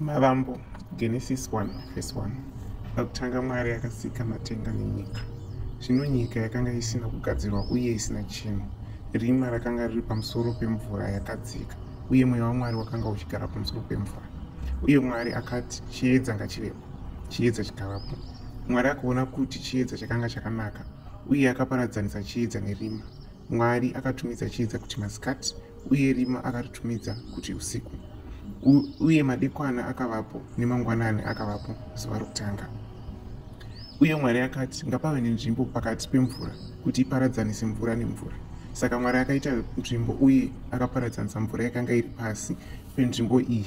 Mavambo, Genesis 1 verse 1. Pakutanga Mwari akasika matenga nenyika. Zvino nyika yakanga isina kugadzirwa uye isina chinhu. Rima rakanga riri pamusoro pemvura yakadzika, uye mweya waMwari wakanga uchigara pamusoro pemvura. Uye Mwari akati, Chiedza ngachivepo. Chiedza chikavapo. Mwari akaona kuti chiedza chakanga chakanaka, uye akaparadzanisa chiedza nerima. Mwari akatumidza chiedza kuti masikati, uye rima akaritumidza kuti usiku. U, uye madekwana akavapo, nemangwanani akavapo, zuva rokutanga. Uye Mwari akati, ngapave nenzvimbo pakati pemvura, kuti iparadzanise mvura nemvura. Saka Mwari akaita nzvimbo uye akaparadzanisa mvura yakanga iri pasi penzvimbo iyi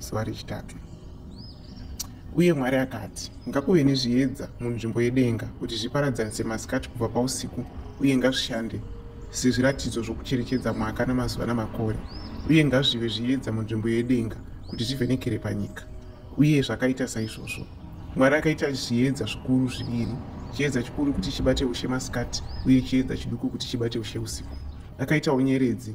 zuva rechitatu uye mwari akati ngakuve nezviedza munzvimbo yedenga kuti zviparadzanise masikati kubva pausiku uye ngazvishande sezviratidzo zvokucherechedza mwaka namazuva namakore uye ngazvive zviedza munzvimbo yedenga kuti zvivhenekere panyika uye zvakaita saizvozvo mwari akaita zviedza zvikuru zviviri chiedza chikuru kuti chibate ushe masikati uye chiedza chiduku kuti chibate ushe usiku akaitawo nyeredzi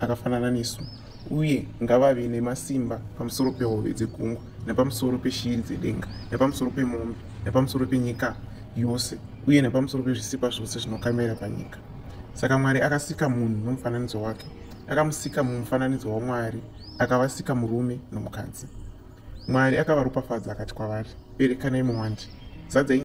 akafanana nesu uye ngavave nemasimba pamusoro pehove dzegungwa nepamusoro peshiri dzedenga nepamusoro pemombe nepamusoro penyika yose uye nepamusoro pezvisikwa zvose zvinokamira panyika saka mwari akasika munhu nomufananidzo wake akamusika mumufananidzo wamwari akavasika murume nomukadzi mwari akavaropafadza akati kwavari berekanai muwandi zadzai